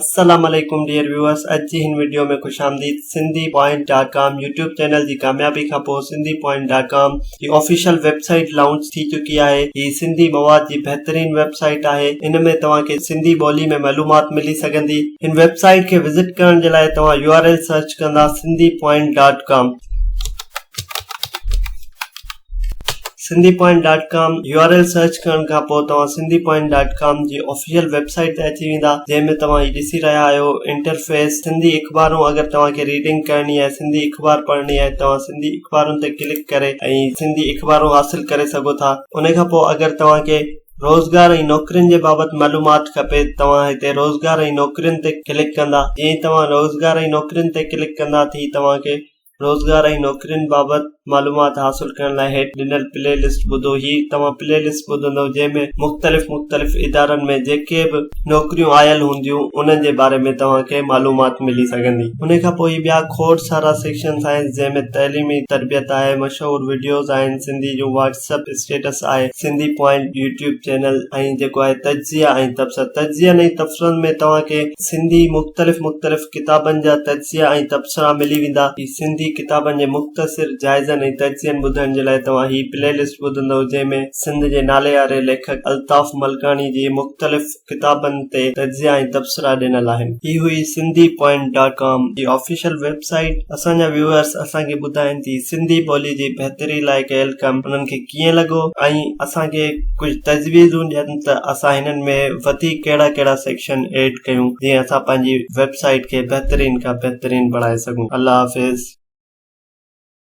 السلام عليڪم dear viewers اڄ جي هن وڊيو ۾ خوش آمديد Sindhi point dot com YouTube channel جي ڪاميابي کان پوء سنڌي پوائنٽ ڊاٽ ڪام جي آفيشل ويب سائيٽ لانچ ٿي چڪي آهي هي سنڌي مواد جي بهترين ويب سائيٽ آهي ان ۾ توهان کي سنڌي ٻولي ۾ معلومات ملي سگهندي هن ويب سائيٽ کي وزٽ ڪرڻ جي لاء توهان يو آر ايل سرچ ڪندا Sindhi point dot com Sindhi point dot com U R L search ڪرڻ کان پوء توهان سنڌي پوائنٽ ڊاٽ ڪام جي آفيشل ويب سائيٽ تي اچي ويندا جنهن ۾ توهان هي ڏسي رهيا آهيو انٽرفيس سنڌي اخبارون اگر توهان کي ريڊنگ ڪرڻي آهي سنڌي اخبار پڙهڻي آهي توهان سنڌي اخبارن تي ڪلڪ ڪري ۽ سنڌي اخبارون حاصل ڪري سگهو ٿا ان کان پوء اگر توهان کي روزگار ۽ نوڪرين جي بابت معلومات کپي توهان هتي روزگار ۽ نوڪرين تي ڪلڪ ڪندا جئين توهان روزگار ۽ نوڪرين تي ڪلڪ ڪندا ٿي توهان کي روزگار ۽ نوڪرين بابت معلومات حاصل ڪرڻ لاء هيٺ ڏنل پلي لسٽ ٻڌو هي توهان پلي لسٽ ٻڌندو جنهن ۾ مختلف مختلف ادارن ۾ جيڪي به نوڪريون آيل هونديون انهن جي باري ۾ توهان کي معلومات ملي سگهندي انهي کان پوء هي ٻيا کوڙ سارا سيڪشنس آهن جنهن ۾ تعليمي تربيت آهي مشهور وڊيوز آهن سنڌي جون واٽس اپ اسٽيٽس آهي سنڌي پوائنٽ يوٽيوب چينل ۽ جيڪو آهي تجزيا ۽ تبصرا تجزين ۽ تبصرن ۾ توهان کي سنڌي مختلف مختلف ڪتابن جا تجزيا ۽ تبصرا ملي ويندا. هي سنڌي ڪتابن جي مختصر جائزن ۽ تجزين ٻڌڻ جي لاء توهان هي پلي لسٽ ٻڌندؤ جنهن ۾ سنڌ جي ناليواري ليکڪ الطاف ملڪاڻي جي مختلف ڪتابن تي تجزيا ۽ تبصرا ڏنل آهن. هي هئي سنڌي پوائنٽ ڊاٽ ڪام جي آفيشل ويب سائيٽ. اسان جا ويوئرز اسان کي ٻڌائين تي سنڌي ٻولي جي بهتري لاء ڪيل ڪم انهن کي. ڪيئن لڳو ۽ اسان کي ڪجهه تجويزون ڏين ته اسان هنن ۾ وڌيڪ ڪهڙا ڪهڙا سيڪشن ايڊ ڪيون جيئن اسان پنهنجي ويب سائيٽ کي بهترين کان بهترين بڻائي سگهون الله حافظ.